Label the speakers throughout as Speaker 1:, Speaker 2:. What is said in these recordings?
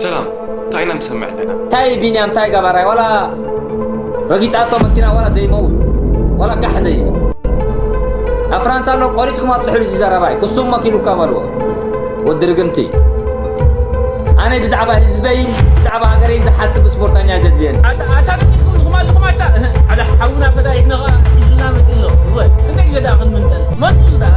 Speaker 1: ሰላም ታይ ኢና ንሰምዕ ኣለና። ታይ ቢንያም ታይ
Speaker 2: ጋባራይ ዋላ ረጊጻቶ መኪና ዋላ ዘይመውት ዋላ ጋሕ ዘይብል ኣብ ፍራንሳ ኣሎ ቆሪጽኩም ኣብጽሕሉ እዚ ዘረባይ ክሱም መኪሉካ በልዎ ወዲ ርግምቲ ኣነ ብዛዕባ ህዝበይ ብዛዕባ ሃገረይ ዝሓስብ ስፖርተኛ ዘድልየኒ ኣታ ደቂስኩም ኢኹም
Speaker 3: ኣለኹም ኣታ ሓደ ሓውና ፈዳይሕና ሒዙና መፂ ኣሎ ክንደይ ግዜ ደኣ ክንምንጠል መንጡል ደኣ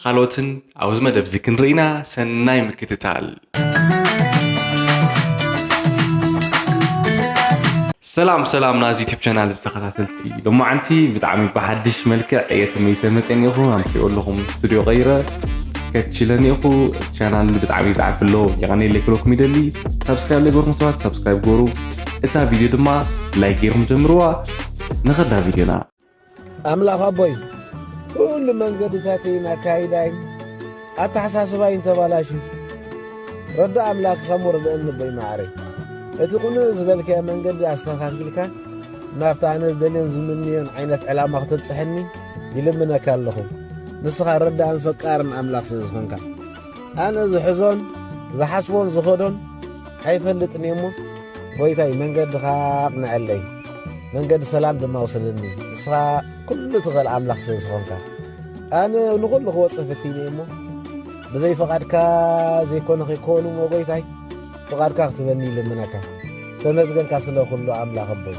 Speaker 1: ኻልኦትን ኣብዚ መደብዚ ክንርኢና ሰናይ ምክትታል። ሰላም ሰላም ናዚ ዩቲብ ቻናል ዝተኸታተልቲ ሎማዓንቲ ብጣዕሚ ብሓድሽ መልክዕ እየ ተመይሰ መፀ ኒኹ ኣምኪኦ ኣለኹም ስቱድዮ ቀይረ ከችለ ኒኹ ቻናል ብጣዕሚ ዝዓቢ ኣሎ የቐነየ ለይክለኩም ይደሊ ሳብስክራይብ ለይገርኩም ሰባት ሳብስክራይብ ገሩ እታ ቪድዮ ድማ ላይክ ገይርኩም ጀምርዋ ንኸዳ ቪድዮና ኣምላኽ
Speaker 4: ኣቦይ ኩሉ መንገድታተይን ኣካይዳይን ኣተሓሳስባይን ተባላሽዩ ረዳ ኣምላኽ ኸሙ ርድእኒ ኣቦይ መዓረይ እቲ ቕኑዕ ዝበልካዮ መንገዲ ኣስተኻኺልካ ናብቲ ኣነ ዝደልዮን ዝምንዮን ዓይነት ዕላማ ኽተብጽሐኒ ይልምነካ ኣለኹ ንስኻ ረዳእን ፈቃርን ኣምላኽ ስለ ዝኾንካ ኣነ ዝሕዞን ዝሓስቦን ዝኸዶን ኣይፈልጥን እየ እሞ ጐይታይ መንገድኻ ኣቕንዐለይ መንገዲ ሰላም ድማ ውሰደኒ ንስኻ ኩሉ ትኽእል ኣምላኽ ስለ ዝኾንካ ኣነ ንኹሉ ክወፅእ ፍቲነ እሞ ብዘይ ፍቓድካ ዘይኮነ ከይኮኑ እሞ ጐይታይ ፍቓድካ ክትበኒ ይልምነካ ተመስገንካ ስለ ኩሉ ኣምላኽ ኣቦይ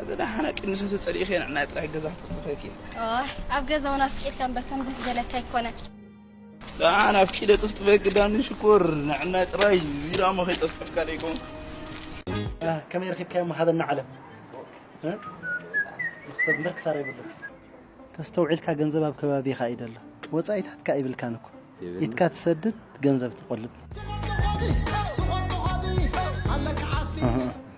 Speaker 5: ኣዘ
Speaker 6: ደሓና ቅድሚ ሰተ ጸሊእኸ ንዕናይ ጥራይ ገዛ ክትክፈኪ ኣብ ገዛውን
Speaker 5: ኣፍቂድካ እምበር ከም ደስ ዘለካ ኣይኮነን ደሓን
Speaker 6: ኣፍቂደ ጥፍጥፈ ግዳኒ ሽኮር ንዕናይ ጥራይ ዚራ መኸይ ጠፍጥፍካ ደይኮን
Speaker 7: ከመይ ረኪብካዮም ሃበና ዓለም ንክሰብ እምበር ክሳራ ይብሉን ተስተውዒልካ ገንዘብ ኣብ ከባቢኻ እዩ ደሎ ወፃኢታት ከ ኣይብልካን እኮ ኢትካ ትሰድድ ገንዘብ ትቆልብ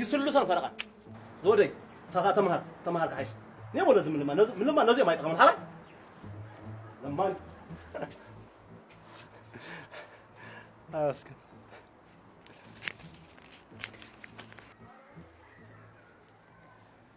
Speaker 8: ይስሉሰን ፈረቓ ዝወደይ ንሳኻ ተምሃር ተምሃር ክሓይሽ ኔሞ ነዚ ምልማ ነዚ ምልማ ነዚኦም ኣይጠቕምን ሓላይ ለማን
Speaker 7: ኣስከ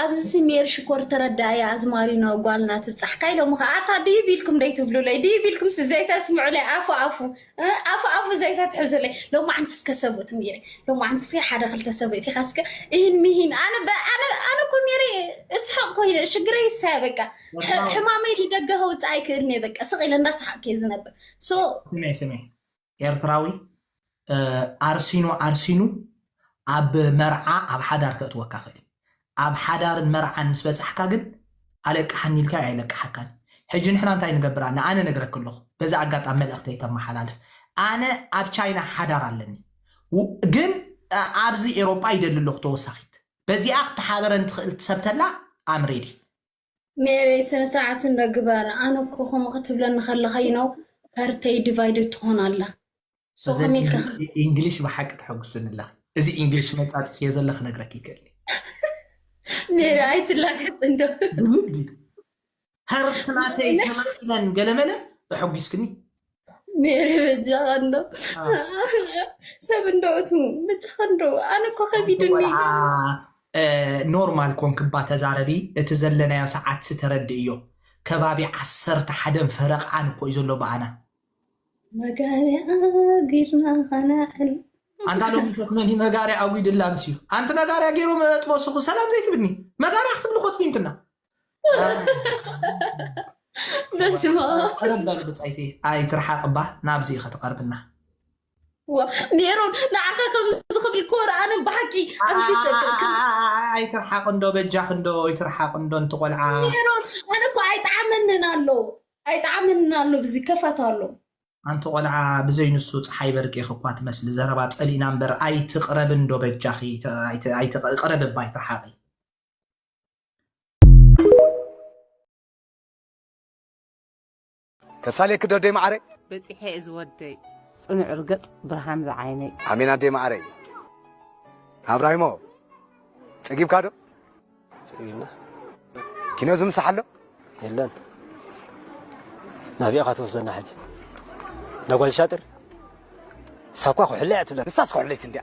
Speaker 9: ኣብዚ ሲ ሜሪ ሽኮር ተረዳኣያ ኣዝማሪኖ ጓልና ትብጻሕካ ኢሎሞ ከኣ ኣታ ድዩ ቢልኩም ደይ ትብሉለይ ድዩ ቢልኩም ሲ ዘይ ተስምዑለይ ኣፉ ኣፉ ኣፉ ኣፉ ዘይ ተትሕዙለይ ሎማዓንቲ ስከ ሰብኡት ሜሪ ሎማዓንቲ ስከ ሓደ ክልተ ሰብኡት ኢካ ስከ እሂን ምሂን ኣነ ኣነ ኣነ እኮ ሜሪ እስሐቅ ኮይነ ሽግረይ ሰ በቃ ሕማመይ ልደገ ከውጽእ ኣይክእልኔ በቃ ስቅ ኢለ እንዳሰሓቅኩ ዝነብር ሶ ስሜ ስሜ
Speaker 10: ኤርትራዊ ኣርሲኑ ኣርሲኑ ኣብ መርዓ ኣብ ሓዳር ከእትወካ ክእል ኣብ ሓዳርን መርዓን ምስ በጻሕካ ግን ኣለቅሓኒ ኢልካ ኣይለቅሓካን ሕጂ ንሕና እንታይ ንገብር ኣነ ኣነ ነግረክ ኣለኹ በዛ ኣጋጣሚ መልእኽተይ ከመሓላልፍ ኣነ ኣብ ቻይና ሓዳር ኣለኒ ግን ኣብዚ ኤሮጳ ይደሊ ኣለኹ ተወሳኺት በዚኣ ክትሓበረን ትኽእል ትሰብተላ ኣምሬዲ ሜሪ
Speaker 9: ስነ ስርዓት እንዶ ግበር ኣነ እኮ ከምኡ ክትብለኒ ከለካ ዩ ነው ሀርተይ ዲቫይድድ ትኾን ኣላ ሶ እዘን ከመይ
Speaker 10: ኢልካ ኢንግ- ኢ- ኢንግሊሽ ብሓቂ ተሐጉስኒ ኣለኺ እዚ ኢንግሊሽ መይ ፃፅፍዮ ዘለ ክነግረኪ ይክእል
Speaker 9: ሜሪ ኣይትላገፅ እንዶ ብልቢ ሀርት
Speaker 10: ናተይ ተመኪነን ገለመለ እሐጒስክኒ ሜሪ
Speaker 9: በጃኻ እንዶ ሰብ እንዶ እቱ በጃኻ እንዶ ኣነ እኮ ከቢድኒ ወልዓ እ፣
Speaker 10: ኖርማል ኮንክባ ተዛረቢ እቲ ዘለናዮ ሰዓት ስተረድእዮ ከባቢ ዓሰርተ ሓደን ፈረቃን እኮ እዩ ዘሎ በኣና
Speaker 9: መጋርያ ጊርና ኸነዕል ኣንታ ሎሚ
Speaker 10: ሸክ መን እዩ መጋርያ ኣጒድላ ምስ እዩ ኣንቲ መጋርያ ገይሮም ኣጥበሱኹ ሰላም ዘይትብኒ መጋርያ ክትብሊ ኮትሚምክና
Speaker 9: በስመ ኣብ ቀረብ በል ብፃይቲ
Speaker 10: ኣይትርሓቅ እባ ናብዚ ኢኸ ትቀርብና
Speaker 9: ሜሮን ንዓኻ ከምዚ ክብል እኮ ረኣነ ብሓቂ ኣብዚ ተ- ተ- ከም-
Speaker 10: ኣይትርሓቅ እንዶ በጃኽ እንዶ ይትርሓቅ እንዶ እንቲ ቆልዓ ሜሮን ኣነ እኮ
Speaker 9: ኣይጠዓመንን ኣሎ ኣይጠዓመንን ኣሎ ብዚ ከፋት ኣሎ ኣንቲ ቆልዓ
Speaker 10: ብዘይ ንሱ ፀሓይ በርቂኽ እኳ ትመስሊ ዘረባ ፀሊእና እምበር ኣይትቅረብ እንዶ በጃኺ ተ- ኣይት- ኣይትቅ- ቅረብ እባ ኣይትርሓቂ
Speaker 11: ተሳሌኪ ዶ ደይ ማዓረይ በፂሐ እዚ ወደይ
Speaker 12: ፅኑዕ ርገፅ ብርሃን ዝዓይነይ ኣሜን ኣደይ ማዓረይ
Speaker 11: ኣብራሂሞ ፀጊብካ ዶ ፀጊብና ኪኖ ዝምሳሕ ኣሎ የለን
Speaker 13: ናብኢኻ ትወስደና ሕጂ ነጓል ሻጥር ሳኳ ኩሕለያ ትብለን ንሳስ ኩሕለይቲ እንዲያ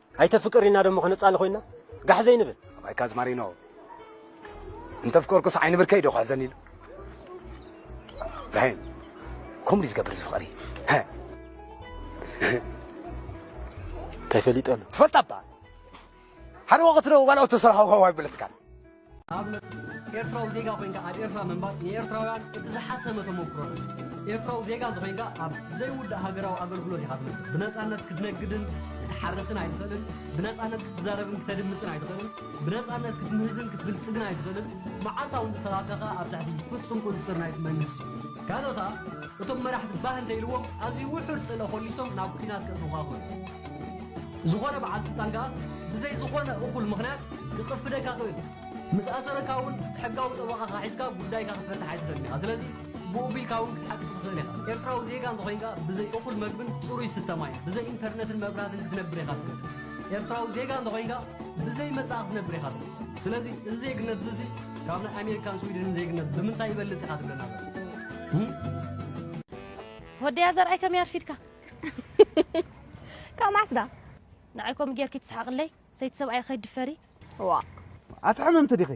Speaker 13: ኣይተ ፍቅር ኢና ደሞ ክንጻለ ኮይና ጋሕ ዘይንብል። ኣባይካ ኣዝማሪኖ
Speaker 11: እንተፍቀርኩስ ዓይኒ ብርከይ ዶ ክሕዘኒ ኢሉ ብራሂም ከምኡ ድዩ ዝገብር እዚ ፍቅሪ እንታይ
Speaker 13: ፈሊጠሉ ትፈልጣ እባ
Speaker 11: ሓደ ወቅት ዶ ጓል ኦቶ ሰራሓ ዋዋይ በለትካ ንኣብነት
Speaker 8: ኤርትራዊ ዜጋ ኮይንካ ኣብ ኤርትራ ምንባር ንኤርትራውያን እቲ ዝሓሰመ ተሞክሮ እዩ። ኤርትራዊ ዜጋ እንተኾይንካ ኣብ ዘይውዳእ ሃገራዊ ኣገልግሎት ኢኻ ትነብር። ብነጻነት ክትነግድን ክትሓርስን ኣይትኽእልን፣ ብነጻነት ክትዛረብን ክተድምጽን ኣይትኽእልን፣ ብነጻነት ክትምህዝን ክትብልጽግን ኣይትኽእልን፣ መዓልታዊ ንጥፈታትካ ከኣ ኣብ ትሕቲ ፍጹም ቁጽጽር ናይቲ መንግስቲ እዩ። ካልእ ከኣ እቶም መራሕቲ ባህ እንተኢልዎም ኣዝዩ ውሑድ ጽልኢ ኮሊሶም ናብ ኲናት ከእትዉኻ ይኽእሉ። ዝኾነ በዓል ስልጣን ከኣ ብዘይ ዝኾነ እኹል ምኽንያት ክቕፍደካ ይኽእል እዩ። ምስ ኣሰረካ እውን ሕጋዊ ጠበቓኻ ሒዝካ ጉዳይካ ክትፈትሕ ኣይትኽእልን ኢኻ። ስለዚ ብኡ ቢልካ እውን ክትሓቅቕ ትኽእል ኢኻ። ኤርትራዊ ዜጋ እንተኾይንካ ብዘይ እኹል መግብን ጽሩይ ዝስተ ማይን፣ ብዘይ ኢንተርነትን መብራህትን ክትነብር ኢኻ ትኽእል። ኤርትራዊ ዜጋ እንተኾይንካ ብዘይ መጻኢ ክትነብር ኢኻ ትኽእል። ስለዚ እዚ ዜግነትዚሲ ካብ ናይ ኣሜሪካን ስዊድንን ዜግነት ብምንታይ ይበልጽ ኢኻ ትብለና ዘላ? ም።
Speaker 14: ሆደያ ዘርኣይ ከመይ ኣርፊድካ? ካብ መዓስ ዳ ንዓይ ከምኡ ጌርኪ ትስሓቕለይ ሰይቲ ሰብኣይ ከይድፈሪ ዋ
Speaker 4: ኣቲ ሕምምቲ ዲኺ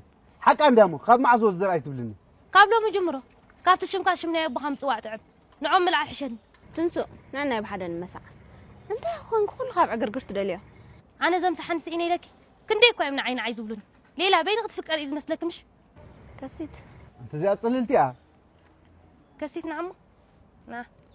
Speaker 4: ሓቃ እንድያ እሞ ካብ መዓዝ ወዝ ዘርኣይ ትብልኒ ካብ ሎሚ ጅምሮ
Speaker 14: ካብቲ ሽምካ ሽም ናይ ኣቦኻ ምፅዋዕ ጥዕም ንዖም ምልዓል ሕሸኒ ትንሱእ ነናይ
Speaker 15: ብሓደ ንመሳዕ እንታይ ኮንኩ ኩሉ ካብ ዕግርግር ትደልዮ ኣነ ዘም ሰሓኒ
Speaker 14: ስኢነ ኢለኪ ክንደይ እኳ እዮም ንዓይ ንዓይ ዝብሉኒ ሌላ በይኒ ክትፍቀር እዩ ዝመስለኪ ምሽ ከሲት
Speaker 15: እንተዚኣ
Speaker 4: ፅልልቲ እያ
Speaker 14: ከሲት ንዓሞ ና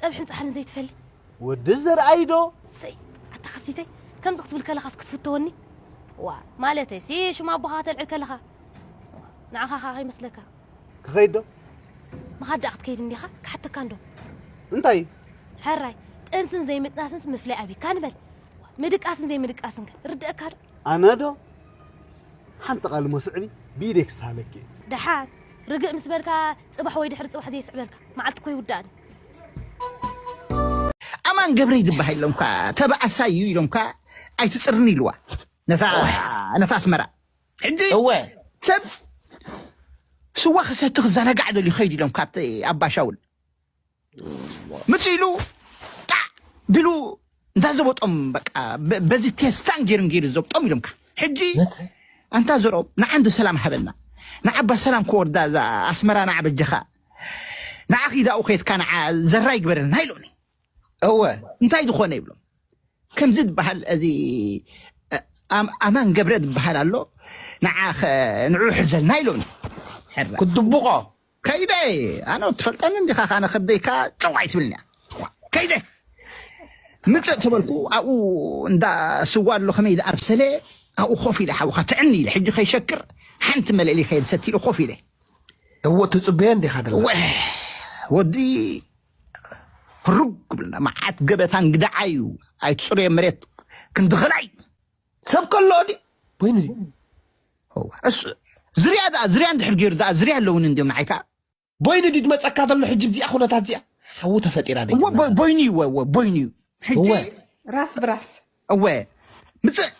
Speaker 14: ጸብሕን ጻሕልን ዘይትፈሊ ወዲ ዘርኣይ
Speaker 4: ዶ ሰይ
Speaker 14: ኣታ ከሲተይ ከምዚ ክትብል ከለኻስ ክትፍተወኒ ዋ ማለተይ ሲ ሽም ኣቦኻ ከተልዕል ከለኻ ንዓኻ ከዓ ከይመስለካ ክኸይድ ዶ
Speaker 4: ምኻድ
Speaker 14: ደኣ ክትከይድ እንዲኻ ክሓተካ እንዶ እንታይ
Speaker 4: ሕራይ
Speaker 14: ጥንስን ዘይምጥናስንስ ምፍላይ ኣብካ ንበል ምድቃስን ዘይምድቃስን ከ ርድአካ ዶ ኣነ ዶ
Speaker 4: ሓንቲ ቃል እሞ ስዕቢ ብኢደይ ክስሃለኪ እየ። ደሓር
Speaker 14: ርግእ ምስ በልካ ጽባሕ ወይ ድሕሪ ጽባሕ ዘይስዕበልካ መዓልቲ እኮ ይውዳእኒ። ኣማን
Speaker 16: ገብረይ ዝበሃል ኢሎምካ ተባኣሳይ እዩ ኢሎምካ ኣይትፅርኒ ኢልዋ ነታ ነታ ኣስመራ ሕጂ እወ ሰብ ስዋ ክሰቲ ክዘናጋዕ ደልዩ ከይድ ኢሎምካ ኣብቲ ኣባሻውል ምፅእ ኢሉ ጣዕ ቢሉ እንታ ዘበጦም በቃ በ- በዚ ቴስታን ጌርን ጌሩ ዘብጦም ኢሎምካ ሕጂ ኣንታ ዘርኦም ንዓንዲ ሰላም ሃበና ንዓባ ሰላም ክወርዳ እዛ ኣስመራ ንዓ በጀኻ ንዓ ኺዳኡ ኸትካ ንዓ ዘራ ይግበረልና ኢሎኒ እወ እንታይ ዝኾነ ይብሎም ከምዚ ዝበሃል እዚ እ፣ ኣም- ኣማን ገብረ ዝበሃል ኣሎ ንዓ ኸ- ንዑ ሕዘልና ኢሎኒ ሕራ ክድብቆ ከይደ ኣነ ትፈልጠኒ እንዲኻ ካነ ከብደይካ ጨው ኣይትብልንያ ከይደ ምፅእ ተበልኩ ኣብኡ እንዳ ስዋ ኣሎ ከመይ ዝኣብሰለ ኣብኡ ኮፍ ኢለ ሓውካ ትዕኒ ኢለ ሕጂ ከይሸክር ሓንቲ መለሊ ከየድ ሰቲ ኢለ ኮፍ ኢለ እዎ
Speaker 4: ትፅበየ እንዲኻ ደላ ወ ወዲ
Speaker 16: ህሩግ ብልና መዓት ገበታ እንግዳዓዩ ኣይትፅሩየ መሬት ክንድኸላይ ሰብ ከሎ ድዩ ኮይኑ
Speaker 4: ድዩ
Speaker 16: ዝርያ ድኣ ዝርያ እንድሕር ገይሩ ድኣ ዝርያ ኣለውን እንድዮም ንዓይ ከዓ ቦይኑ ድዩ
Speaker 4: ድመፀካ ዘሎ ሕጂ ብዚኣ ኩነታት እዚኣ ሓዊ ተፈጢራ ደ ቦይኑ እዩ ወ ቦይኑ
Speaker 16: እዩ ሕጂ
Speaker 4: ራስ ብራስ
Speaker 15: እወ
Speaker 16: ምፅእ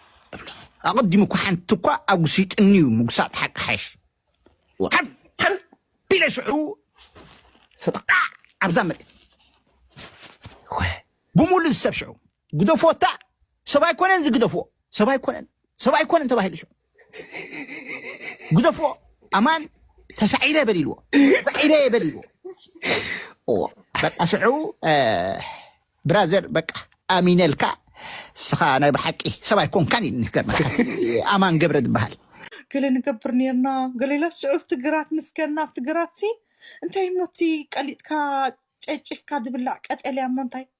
Speaker 16: ኣቐዲሙ እኳ ሓንቲ እኳ ኣጉሲጥኒ እዩ ምጉሳጥ ሓቂ ሓሽ ሓንቢለ ሽዑ ሰጠቃዕ ኣብዛ መሬት ብምሉእ ዝሰብ ሽዑ ግደፎ እታ ሰብ ኣይኮነን እዚ ግደፎ ሰብ ኣይኮነን ሰብ ኣይኮነን ተባሂሉ ሸ ግደፎ ኣማን ተሳዒረ በል ኢልዎ ተሳዒረ እየ በል ኢልዎ በቃ ሽዑ እ፣ ብራዘር በቃ ኣሚነልካ ስኻ ናይ ብሓቂ ሰብ ኣይኮንካን እዩ ንገርመካ እቲ ኣማን ገብረ ዝበሃል ገለ ንገብር
Speaker 17: ነርና ገሌለስ ሽዑ ኣብቲ ግራት ምስ ከና ኣብቲ ግራት ሲ እንታይ እሞ እቲ ቀሊጥካ ጨጭፍካ ዝብላዕ ቀጠልያ እሞ እንታይ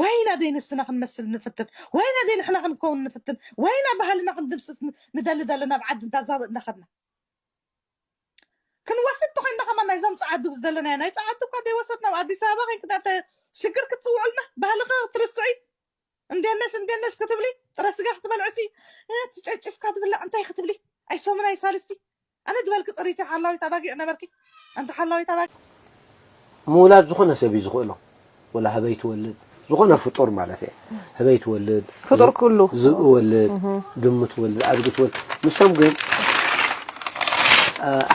Speaker 17: ወይና ደይ ንስና ክንመስል ንፍትን ወይና ደይ ንሕና ክንከውን ንፍትን ወይና ባህልና ክንድምስስ ንደሊ ዘለና ኣብ ዓዲ እንዳ ዛብእ እንዳኸድና ክንወስድ ተኾይንና ከማን ናይዞም ጸዓዱ ዝደለናዮ ናይ ጸዓዱ እኳ ደይወሰድና ኣብ ኣዲስ ኣበባ ኮይንኪ ሽግርኪ ትጽውዑልና ባህልኺ ክትርስዒ እንዴት ነሽ እንዴት ነሽ ክትብሊ ጥረ ስጋ ክትበልዕሲ ትጨጭፍካ ትብላዕ እንታይ ክትብሊ ኣይ ሰሙን ኣይ ሳልስቲ ኣነ ዝበልኪ ፅሪቲ ሓላዊት ኣባጊዕ ነበርኪ ኣንቲ ሓላዊት ኣባጊዕ
Speaker 4: ምውላድ ዝኾነ ሰብ እዩ ዝኽእሎ ወላ ህበይ ትወልድ ዝኾነ ፍጡር ማለት እየ ህበይ ትወልድ ፍጡር ኩሉ
Speaker 15: ዝብኢ ወልድ
Speaker 4: ድሙ ትወልድ ኣድጊ ትወልድ ንሶም ግን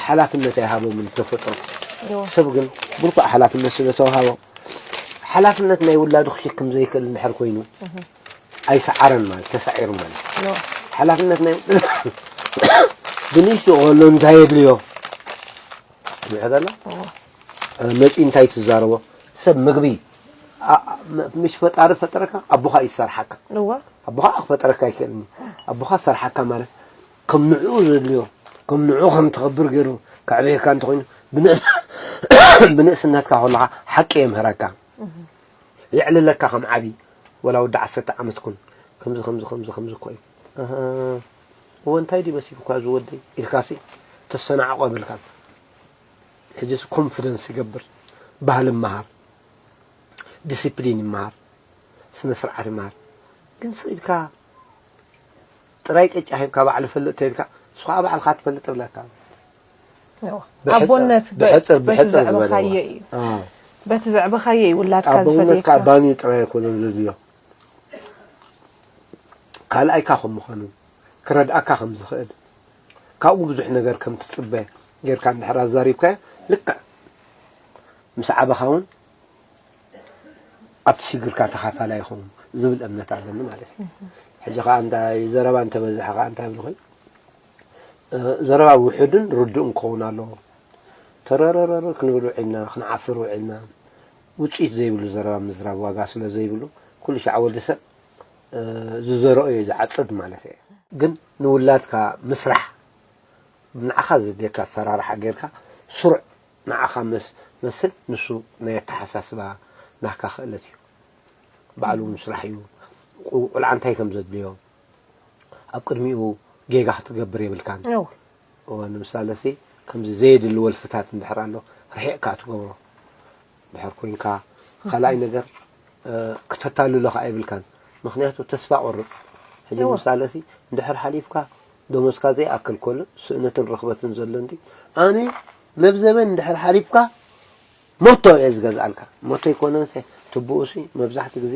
Speaker 4: ሓላፍነት ኣይሃቦምን ተፈጥሮ ሰብ ግን ብልኩዕ ሓላፍነት ስለተዋሃቦም ሓላፍነት ናይ ውላዱ ክሽክም ዘይክእል እንድሕር ኮይኑ ኣይሰዓረን ማለት ተሳዒሩ ማለት ሓላፍነት ናይ ብንእሽቱ ከሎ እንታይ የድልዮ ምሕበላ መፂ እንታይ ትዛረቦ ሰብ ምግቢ ምሽ ፈጣሪ ፈጠረካ ኣቦኻ እዩ ዝሰርሓካ ኣቦኻ
Speaker 15: ክፈጠረካ
Speaker 4: ኣይክእልን ኣቦኻ ዝሰርሓካ ማለት ከም ንዕኡ ዘድልዮ ከም ንዕኡ ከም ትኸብር ገይሩ ከዕበየካ እንተኮይኑ ብንእስነትካ ከለኻ ሓቂ የምህረካ የዕልለካ ከም ዓቢ ወላ ወዲ ዓሰርተ ዓመት ኩን ከምዚ ከምዚ ከምዚ ከምዚ እኮ እዩ እወ እንታይ ድዩ መሲሉካ እዚ ወደይ ኢልካሲ ተሰናዕቆ ብልካ ሕጅስ ኮንፊደንስ ይገብር ባህል ይመሃር ዲሲፕሊን ይመሃር ስነ ስርዓት ይመሃር ግን ሰው ኢልካ ጥራይ ቅጫ ሂብካ ባዕሉ ፈልጥ ተልካ ንሱ ከዓ ባዕልካ ትፈልጥ ብለካ
Speaker 15: ኣቦነት ብሕጽር ብሕጽር
Speaker 4: ዝበልዎ
Speaker 15: በቲ ዘዕበኻዮ እዩ ውላድካ ኣቦነት ካብ ባኒ ጥራይ
Speaker 4: ኣይኮነን ዘድልዮ ካልኣይካ ከም ምዃኑ ክረድኣካ ከም ዝኽእል ካብኡ ብዙሕ ነገር ከም ትጽበ ጌርካ እንድሕር ኣዛሪብካዮ ልክዕ ምስ ዓበኻ እውን ኣብቲ ሽግርካ ተኻፋላይ ይኸውን ዝብል እምነት ኣለኒ ማለት እዩ ሕጂ ከዓ እንታይ ዘረባ እንተበዝሐ ከዓ እንታይ ብልኹይ ዘረባ ውሑድን ርዱእን ክኸውን ኣለዎ። ተረረረረ ክንብል ውዒልና ክንዓፍር ውዒልና ውጽኢት ዘይብሉ ዘረባ ምዝራብ ዋጋ ስለ ዘይብሉ ኩሉ ሻዕ ወዲ ሰብ ዝዘረኦ እዩ ዝዓጽድ ማለት እየ። ግን ንውላድካ ምስራሕ ንዓኻ ዘድልየካ ኣሰራርሓ ጌርካ ስሩዕ ንዓኻ መስ መስል ንሱ ናይ ኣተሓሳስባ ናህካ ክእለት እዩ ባዕሉ ምስራሕ እዩ። ቁልዓ እንታይ ከም ዘድልዮ ኣብ ቅድሚኡ ጌጋ ክትገብር የብልካን እወ ንምሳለ ሲ ከምዚ ዘየድሊ ወልፍታት እንድሕር ኣሎ ርሒቕካ ትገብሮ ድሕር ኮንካ ካልኣይ ነገር ክተታልሎ ከዓ የብልካን ምክንያቱ ተስፋ ቆርፅ ሕጂ ንምሳለ ሲ እንድሕር ሓሊፍካ ደሞዝካ ዘይኣክል ኮሎ ስእነትን ርኽበትን ዘሎ እንዲ ኣነ መብዘበን እንድሕር ሓሊፍካ ሞቶ እየ ዝገዝኣልካ ሞቶ ይኮነንሰ ትብኡሲ መብዛሕቲ ግዜ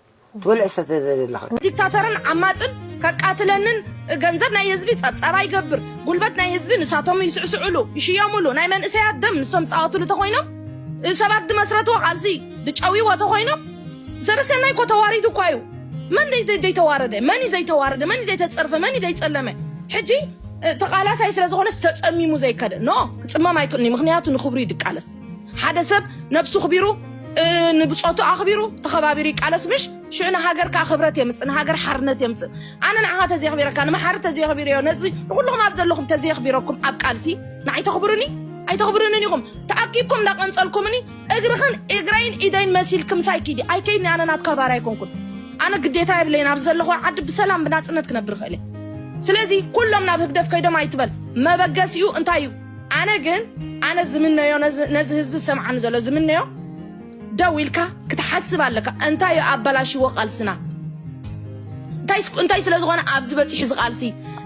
Speaker 2: ትበልዕ ሰተ ዘደለኻ። ዲክታተርን
Speaker 15: ዓማጽን ከቃትለንን ገንዘብ ናይ ህዝቢ ጸብጻባ ይገብር ጉልበት ናይ ህዝቢ ንሳቶም ይስዕስዕሉ ይሽየምሉ ናይ መንእሰያት ደም ንሶም ዝጻወትሉ ተኾይኖም ሰባት ድመስረትዎ ቃልሲ ድጨውይዎ ተኾይኖም ሰበሰናይ እኮ ተዋሪዱ እኳ እዩ መን ደይ ደይተዋረደ መን እዩ ዘይተዋረደ መን እዩ ደይተጸርፈ መን እዩ ደይጸለመ ሕጂ ተቃላሳይ ስለ ዝኾነስ ተጸሚሙ ዘይከደ ኖ ክጽመም ኣይክእልኒ ምክንያቱ ንክብሩ እዩ ድቃለስ ሓደ ሰብ ነብሱ ኣኽቢሩ ንብጾቱ ኣኽቢሩ ተኸባቢሩ ይቃለስ ምሽ ሽዑ ንሃገር ከዓ ክብረት የምፅእ ንሃገር ሓርነት የምፅእ ኣነ ንዓኻ ተዘየኽቢረካ ንመሓሪ ተዘየኽቢረዮ ነዚ ንኩልኹም ኣብ ዘለኹም ተዘየኽቢረኩም ኣብ ቃልሲ ንዓይ ተኽብሩኒ ኣይተኽብሩንን ኢኹም ተኣኪብኩም እንዳቐንፀልኩምኒ እግርኽን እግረይን ኢደይን መሲልክ ምሳይ ኪዲ ኣይከይድኒ ኣነ ናትካ ባር ኣይኮንኩን ኣነ ግዴታ የብለይን ኣብ ዘለኹ ዓዲ ብሰላም ብናፅነት ክነብር ይኽእል እየ ስለዚ ኩሎም ናብ ህግደፍ ከይዶም ኣይትበል መበገሲኡ እንታይ እዩ ኣነ ግን ኣነ ዝምነዮ ነዚ ህዝቢ ዝሰምዓኒ ዘሎ ዝምነዮ ደው ኢልካ ክትሓስብ ኣለካ እንታይ እዩ ኣበላሽዎ ቃልስና እንታይ ስለ ዝኾነ ኣብዚ በፂሑ ዝቓልሲ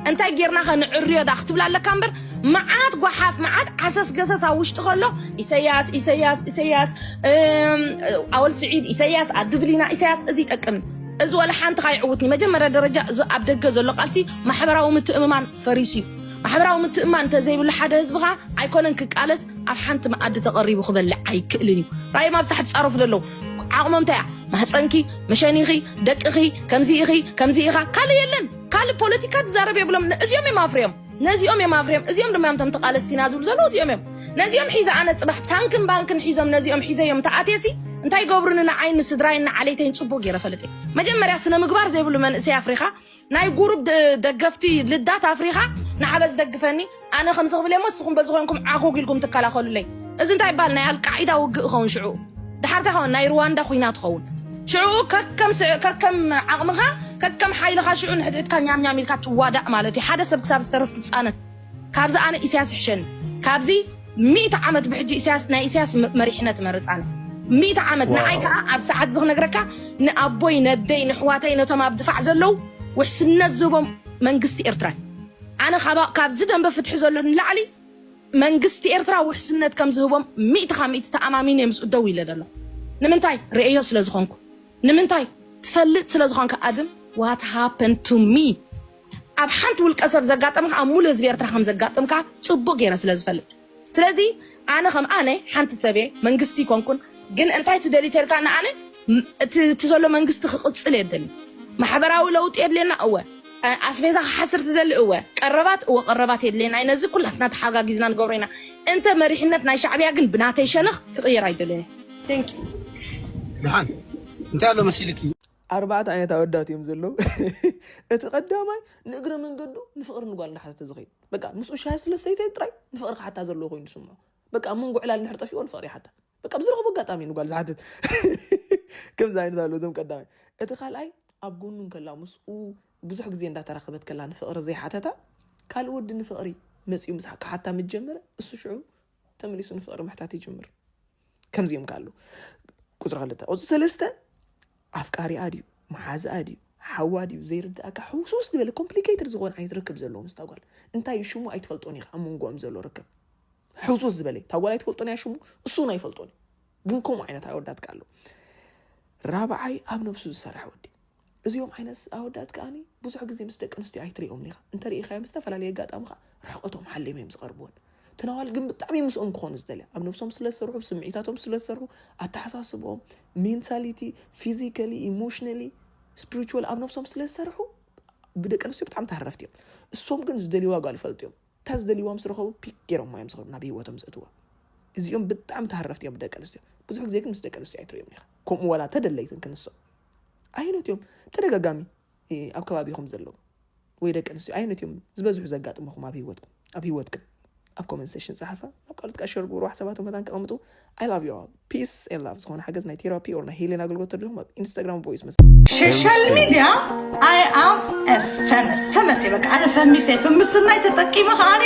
Speaker 15: እንታይ ጌርና ኸ ንዕርዮ ዳ ክትብል ኣለካ እምበር መዓት ጓሓፍ መዓት ዓሰስ ገሰስ ኣብ ውሽጢ ከሎ ኢሰያስ ኢሰያስ ኢሰያስ ኣወል ስዒድ ኢሰያስ ኣድብሊና ኢሰያስ እዚ ይጠቅም እዚ ወላ ሓንቲ ካይዕውትኒ መጀመርያ ደረጃ እዚ ኣብ ደገ ዘሎ ቃልሲ ማሕበራዊ ምትእምማን ፈሪሱ እዩ። ማሕበራዊ ምትእምማን እንተዘይብሉ ሓደ ህዝቢ ከኣ ኣይኮነን ክቃለስ ኣብ ሓንቲ መኣዲ ተቐሪቡ ክበልዕ ኣይክእልን እዩ። ራእዮም ኣብ ሳሕቲ ጻረፉ ዘለዉ ዓቕሞም እንታይ እያ? ማህጸንኪ፣ መሸኒኺ፣ ደቅኺ፣ ከምዚ ኢኺ፣ ከምዚ ኢኻ፣ ካልእ የለን። ካልእ ፖለቲካ ትዛረብ የብሎም። እዚኦም እዮም ኣፍርዮም። ነዚኦም እዮም ኣፍርዮም። እዚኦም ድማ እዮም እቶም ተቓለስቲ ኢና ዝብሉ ዘለዉ እዚኦም እዮም። ነዚኦም ሒዘ ኣነ ጽባሕ ታንክን ባንክን ሒዞም ነዚኦም ሒዘዮም ተኣትየሲ እንታይ ይገብሩኒ ንዓይን ንስድራይን ንዓሌተይን ጽቡቕ ገይረ እፈልጥ እየ። መጀመርያ ስነ ምግባር ዘይብሉ መንእሰይ ኣፍሪኻ ናይ ጉሩብ ደገፍቲ ልዳት ኣፍሪኻ ንዓ በዚ ደግፈኒ ኣነ ከምዚ ክብል እየሞ ንስኹም በዚ ኮንኩም ዓጎግ ኢልኩም ትከላኸሉለይ እዚ እንታይ ይበሃል ናይ ኣልቃዒዳ ውግእ ይኸውን ሽዑ ድሓር እንታይ ይኸውን ናይ ሩዋንዳ ኩናት ይኸውን ሽዑ ከከም ስዕ ከከም ዓቕምኻ ከከም ሓይልኻ ሽዑ ንሕድሕድካ ኛምኛም ኢልካ ትዋዳእ ማለት እዩ ሓደ ሰብ ክሳብ ዝተርፍ ትጻነት ካብዚ ኣነ ኢሰያስ ይሕሸኒ ካብዚ ሚእቲ ዓመት ብሕጂ ኢሰያስ ናይ ኢሰያስ መሪሕነት እመርጽ ኣነ ሚእቲ ዓመት ንዓይ ከኣ ኣብ ሰዓት እዚ ክነግረካ ንኣቦይ ነደይ ንሕዋተይ ነቶም ኣብ ድፋዕ ዘለዉ ውሕስነት ዝህቦም መንግስቲ ኤርትራ ኣነ ካብዚ ደንበ ፍትሒ ዘሎ ንላዕሊ መንግስቲ ኤርትራ ውሕስነት ከም ዝህቦም ሚእቲ ካብ ሚእቲ ተኣማሚነ እየ ምስኡ ደው ኢለ ዘሎ ንምንታይ ርእዮ ስለ ዝኾንኩ ንምንታይ ትፈልጥ ስለ ዝኾንካ ኣድም ዋት ሃፐን ቱ ሚ ኣብ ሓንቲ ውልቀ ሰብ ዘጋጠመ ኣብ ሙሉ ህዝቢ ኤርትራ ከም ዘጋጥም ከኣ ጽቡቅ ገይረ ስለ ዝፈልጥ ስለዚ ኣነ ከም ኣነ ሓንቲ ሰብ እየ መንግስቲ ይኮንኩን ግን እንታይ ትደሊ ተልካ ንኣነ እቲ ዘሎ መንግስቲ ክቅጽል እየ ደሊ ማሕበራዊ ለውጢ የድልየና እወ ኣስቤዛ ክሓስር ትደሊ እወ ቀረባት እወ ቀረባት የድልየና እዩ ነዚ ኩላትና ተሓጋጊዝና ንገብሮ ኢና እንተ መሪሕነት ናይ ሻዕብያ ግን ብናተይ ሸነኽ ክቅየር ኣይደልን እዩ ደሓን
Speaker 18: እንታይ ኣሎ መሲልኪ ኣርባዕተ ዓይነት
Speaker 19: ኣወዳት እዮም ዘለዉ እቲ ቀዳማይ ንእግረ መንገዱ ንፍቕሪ ንጓል እንዳሓተተ ዝኸይድ በቃ ምስኡ ሻሂ ስለ ሰይተ ጥራይ ንፍቕሪ ክሓታ ዘለዎ ኮይኑ ዝስምዖ በቃ ኣብ መንጎ ዕላል ንድሕር ጠፊኦ ንፍቕሪ ይሓታ በቃ ብዝረኸቦ ኣጋጣሚ ንጓል ዝሓትት ከምዚ ዓይነት ኣለዉ እዞም ቀዳማይ እቲ ካልኣይ ኣብ ጎኑ እንከላ ምስኡ ብዙሕ ግዜ እንዳተራኸበት ከላ ንፍቕሪ ዘይሓተታ ካልእ ወዲ ንፍቕሪ መፂኡ ምስ ክሓታ ምስ ጀመረ እሱ ሽዑ ተመሊሱ ንፍቕሪ ምሕታት ይጅምር ከምዚኦም ከ ኣሉ ቁፅሪ ክልተ ቁፅሪ ሰለስተ ኣፍቃሪኣ ድዩ መሓዝኣ ድዩ ሓዋ ድዩ ዘይርድኣካ ሕውስውስ ዝበለ ኮምፕሊኬትድ ዝኾነ ዓይነት ርክብ ዘለዎ ምስ ታጓል እንታይ እዩ ሽሙ ኣይትፈልጦን ኢኻ ኣብ መንጎኦም ዘሎ ርክብ ሕውስውስ ዝበለ ታጓል ኣይትፈልጦን እያ ሽሙ እሱ እውን ኣይፈልጦን እዩ ግን ከምኡ ዓይነት ኣወዳትካ ኣሎ ራብዓይ ኣብ ነብሱ ዝሰርሐ ወዲ እዚኦም ዓይነት ኣወዳት ከኣ ብዙሕ ግዜ ምስ ደቂ ኣንስትዮ ኣይትሪኦምን ኢኻ፣ እንተ ርኢኻዮም ብዝተፈላለየ ኣጋጣሚ ከኣ ርሕቐቶም ሓልዮም እዮም ዝቐርቡወን። እተን ኣዋልድ ግን ብጣዕሚ እዮም ምስኦም ክኾኑ ዝደልያ፣ ኣብ ነብሶም ስለ ዝሰርሑ፣ ብ ስምዒታቶም ስለ ዝሰርሑ፣ ኣተሓሳስብኦም፣ ሜንታሊቲ፣ ፊዚካሊ፣ ኢሞሽናሊ፣ ስፕሪቹዋሊ ኣብ ነብሶም ስለ ዝሰርሑ ብደቂ ኣንስትዮ ብጣዕሚ ተሃረፍቲ እዮም። እሶም ግን ዝደልዩዋ ጓል ይፈልጡ እዮም። እታ ዝደልዩዋ ምስ ረኸቡ ፒክ ገይሮማ እዮም ዝኸዱ ናብ ህይወቶም ዘእትዋ። እዚኦም ብጣዕሚ ተሃረፍቲ እዮም ብደቂ ኣንስትዮ፣ ብዙሕ ግዜ ግን ምስ ደቂ ኣንስትዮ ኣይትሪኦምን ኢኻ፣ ከምኡ ዋላ እንተ ደለይትን ክንሶም። ኣየኖት እዮም ተደጋጋሚ ኣብ ከባቢኹም ዘለዉ ወይ ደቂ ኣንስትዮ ኣየኖት እዮም ዝበዝሑ ዘጋጥመኹም ኣብ ሂወትኩም ኣብ ሂወትክን ኣብ ኮመንት ሴሽን ፀሓፋ ናብ ካልኦት ከዓ ሸር ግብሩ ሰባት መታን ከቐምጡ ኣይ ላቭ ዩ ኣል ፒስ ኤን ላቭ ዝኾነ ሓገዝ ናይ ቴራፒ ኦር ናይ ሄሌን ኣገልግሎት ተድልኹም ኣብ ኢንስታግራም ቮይስ መስ ሶሻል
Speaker 17: ሚዲያ ኣይ ኣም ፈመስ ፈመስ በቃ ኣነ ፈሚሰ ፍምስናይ ተጠቂመ ከዓኒ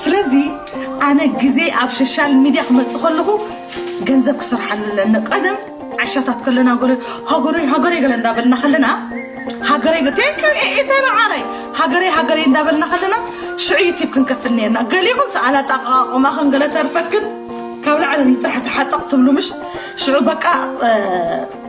Speaker 17: ስለዚ ኣነ ግዜ ኣብ ሸሻል ሚድያ ክመጽእ ከለኹ ገንዘብ ክሰርሓሉ ኣለኒ ቀደም ዓሻታት ከለና ጎለ ሃገረይ ሃገረይ ገለ እንዳበልና ከለና ሃገረይ ገ ቴንክ ዩ ኤኤታይ መዓረይ ሃገረይ ሃገረይ እንዳበልና ከለና ሽዑ ዩቲብ ክንከፍል ነርና ገሊኹም ሰኣላ ጣቃቆማኽን ገለ ተርፈክን ካብ ላዕሊ ንታሕቲ ሓጠቕ ትብሉ ምሽ ሽዑ በቃ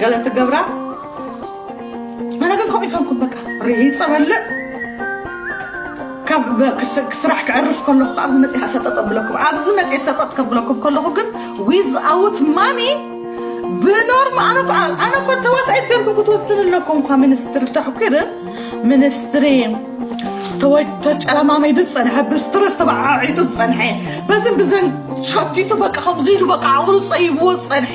Speaker 17: ገለ ትገብራ ኣነ ግን ከምኡ ይኮንኩም በቃ ርሂፀ በልዕ ካብ ስራሕ ክዕርፍ ከለኹ ኣብዚ መፅ ሰጠጥ ኣብለኩም ኣብዚ መፅ ሰጠጥ ከብለኩም ከለኹ ግን ዊዝ ኣውት ማኒ ብኖርማ ኣነ እኮ ተዋሳኢት ገርኩም ክትወስድን ኣለኩም እኳ ሚኒስትሪ ተሕኪር ሚኒስትሪ ተጨለማመይ ዝፀንሐ ብስትረስ ተበዓዒጡ ዝፀንሐ በዝን ብዘን ሸቲቱ በቃ ከምዚ ኢሉ በቃ ዓቕሉ ፀይብዎ ዝፀንሐ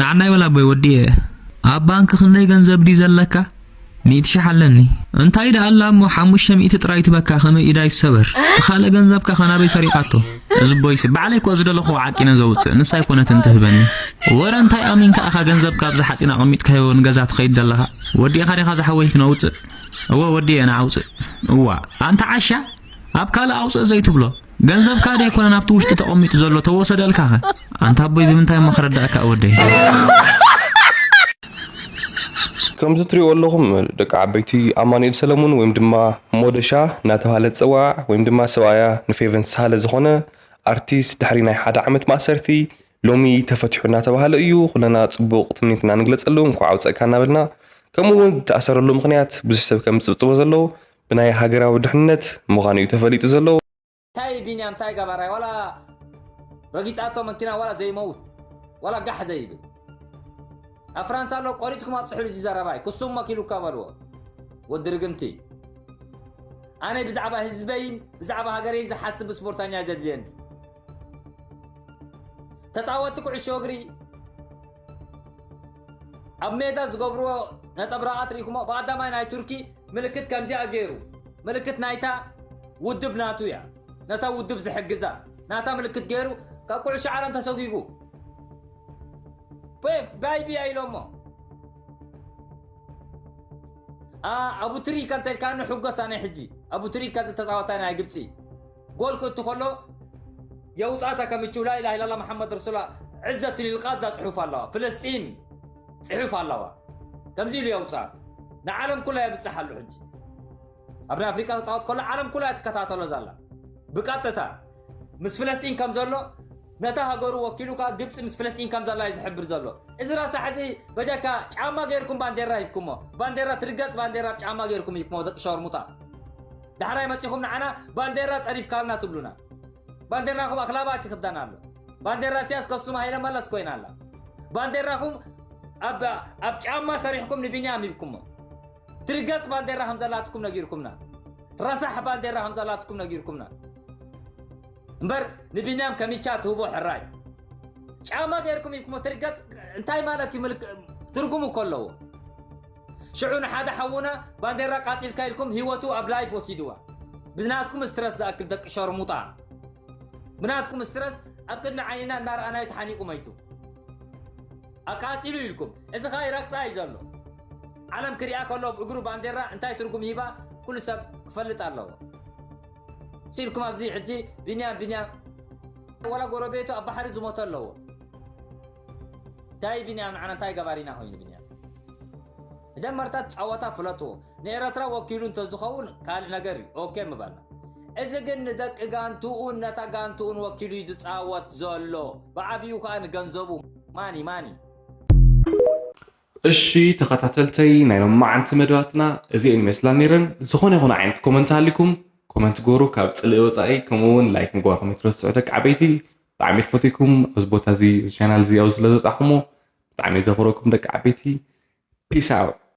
Speaker 2: ንዓና ይበል ኣቦይ ወዲየ ኣብ ባንክ ክንደይ ገንዘብ ድዩ ዘለካ ሚእቲ ሽሕ ኣለኒ እንታይ ደኣ ኣላ እሞ ሓሙሽተ ሚእቲ ጥራይ ትበካ ከመይ ኢዳ ይሰበር ትኻለ ገንዘብካ ከናበይ ሰሪቃቶ እዝቦይሲ ባዕለይ እኮ ዝደለኹዎ ዓቂነ ዘውጽእ ንሳ ኣይኮነትን ትህበኒ ወረ እንታይ ኣሚንካ ኣኻ ገንዘብካ ኣብዚ ሓጺን ኣቐሚጥካዮ ንገዛ ትኸይድ ዘለኻ ወዲእኻ ዲኻ ዝሓወይ ክነውጽእ እወ ወዲየ ንዓውጽእ እዋ ኣንታ ዓሻ ኣብ ካልእ ኣውጽእ ዘይትብሎ ገንዘብካ ደይ ኮነን ኣብቲ ውሽጢ ተቐሚጡ ዘሎ ተወሰደልካኸ ኣንታ ኣቦይ ብምንታይ እሞ ክረዳእካ ወደይ
Speaker 20: ከምዚ ትሪኦ ኣለኹም ደቂ ዓበይቲ ኣማኑኤል ሰለሙን ወይም ድማ ሞደሻ እናተባሃለ ዝፅዋዕ ወይም ድማ ሰብኣያ ንፌቨን ሳለ ዝኾነ ኣርቲስት ድሕሪ ናይ ሓደ ዓመት ማእሰርቲ ሎሚ ተፈትሑ እናተባሃለ እዩ ኩለና ፅቡቕ ትምኒት እናንግለፀሉ እንኳዕ ኣውፀእካ እናበልና ከምኡ እውን ዝተኣሰረሉ ምክንያት ብዙሕ ሰብ ከም ዝፅብፅቦ ዘሎ ብናይ ሃገራዊ ድሕንነት ምኻኑ እዩ ተፈሊጡ ዘሎ። ታይ ቢንያም
Speaker 21: ታይ ገባራይ ዋላ ረጊጻቶ መኪና ዋላ ዘይመውት ዋላ ጋሕ ዘይብል ኣብ ፍራንሳ ኣሎ ቆሪጽኩም ኣብጽሕሉ እዚ ዘረባይ ክሱም መኪሉካ በልዎ ወዲ ርግምቲ ኣነ ብዛዕባ ህዝበይን ብዛዕባ ሃገረይ ዝሓስብ ስፖርተኛ ዘድልየኒ ተጻወቲ ኩዕሾ እግሪ ኣብ ሜዳ ዝገብርዎ ነጸብራቓት ርኢኹሞ ብቀዳማይ ናይ ቱርኪ ምልክት ከምዚኣ ገይሩ ምልክት ናይታ ውድብ ናቱ እያ ነታ ውድብ ዝሕግዛ ናታ ምልክት ገይሩ ካብ ኩዕሾ ዓለም ተሰጒጉ ፔፕ ባይቢያ ኢሎሞ ኣቡ ትሪካ እንተልካኒ ሕጎስ ኣነ ሕጂ ኣቡ ትሪካ ዝተፃወታ ናይ ግብፂ ጎል ክእቱ ከሎ የውጣታ ከምችው ላኢላህ ኢላላ መሓመድ ረሱላ ዕዘቱ ሊልቃዛ ፅሑፍ ኣለዋ ፍለስጢን ፅሑፍ ኣለዋ ከምዚ ኢሉ የውፃ ንዓለም ኩላ የብፅሕ ኣሉ ሕጂ ኣብ ናይ ኣፍሪቃ ክፃወት ከሎ ዓለም ኩላ ትከታተሎ ዘላ ብቀጥታ ምስ ፍለስጢን ከም ዘሎ ነታ ሃገሩ ወኪሉ ከኣ ግብጺ ምስ ፍለስጢን ከም ዘላ'ዩ ዝሕብር ዘሎ። እዚ ረሳሕ እዚ በጃካ ጫማ ጌርኩም ባንዴራ ሂብኩሞ። ባንዴራ ትርገጽ ባንዴራ ብ ጫማ ጌርኩም ሂብኩሞ ደቂ ሸርሙጣ። ዳሕራይ መጺኹም ንዓና ባንዴራ ጸሪፍካልና ትብሉና። ባንዴራኹም ኣኽላባት ይኽደን ኣሎ። ባንዴራ ኢሰያስ ከሱም ሃይለ መለስ ኮይና ኣላ። ባንዴራኹም ኣብ ኣብ ጫማ ሰሪሕኩም ንቢንያም ሂብኩሞ። ትርገጽ ባንዴራ ከም ዘላትኩም ነጊርኩምና። ረሳሕ ባንዴራ ከም ዘላትኩም ነጊርኩምና። እምበር ንቢንያም ከሚቻ ትህቦ ሕራይ ጫማ ገይርኩም ኢልኩሞ ትርገጽ እንታይ ማለት እዩ ምልክ ትርጉም እኮ ኣለዎ ሽዑ ንሓደ ሓውና ባንዴራ ቃጺልካ ኢልኩም ህይወቱ ኣብ ላይፍ ወሲድዋ ብናትኩም ስትረስ ዝኣክል ደቂ ሸርሙጣ ብናትኩም ስትረስ ኣብ ቅድሚ ዓይንና እናረኣናዩ ተሓኒቑ መይቱ ኣቃጺሉ ኢልኩም እዚ ኸኣ ይረግጻ እዩ ዘሎ ዓለም ክሪኣ ከሎ እግሩ ባንዴራ እንታይ ትርጉም ሂባ ኩሉ ሰብ ክፈልጥ ኣለዎ ሲልኩም ኣብዚ ሕጂ ቢንያም ቢንያም ወላ ጎረቤቱ ኣብ ባሕሪ ዝሞተ ኣለዎ እንታይ ቢንያም ንዓና እንታይ ገባሪና ኮይኑ ቢንያም መጀመርታ ጸወታ ፍለጥዎ ንኤረትራ ወኪሉ እንተዝኸውን ካልእ ነገር እዩ ኦኬ ምባልና እዚ ግን ንደቂ ጋንትኡን ነታ ጋንትኡን ወኪሉ እዩ ዝጻወት ዘሎ ብዓብኡ ከዓ ንገንዘቡ ማኒ ማኒ
Speaker 20: እሺ ተኸታተልተይ ናይ ሎምዓንቲ መደባትና እዚኤን ይመስላ ነይረን ዝኾነ ይኹን ዓይነት ኮመንት ሃሊኩም ኮመንት ግበሩ ካብ ፅልኢ ወፃኢ ከምኡ እውን ላይክ ምግባርኩም ኣይትረስዑ ደቂ ዓበይቲ ብጣዕሚ ክፈትኩም ኣብዚ ቦታ እዚ ቻናል እዚ ኣብ ስለዘብፃሕኩሞ ብጣዕሚ ዘኽብረኩም ደቂ ዓበይቲ ፒስ ኣውት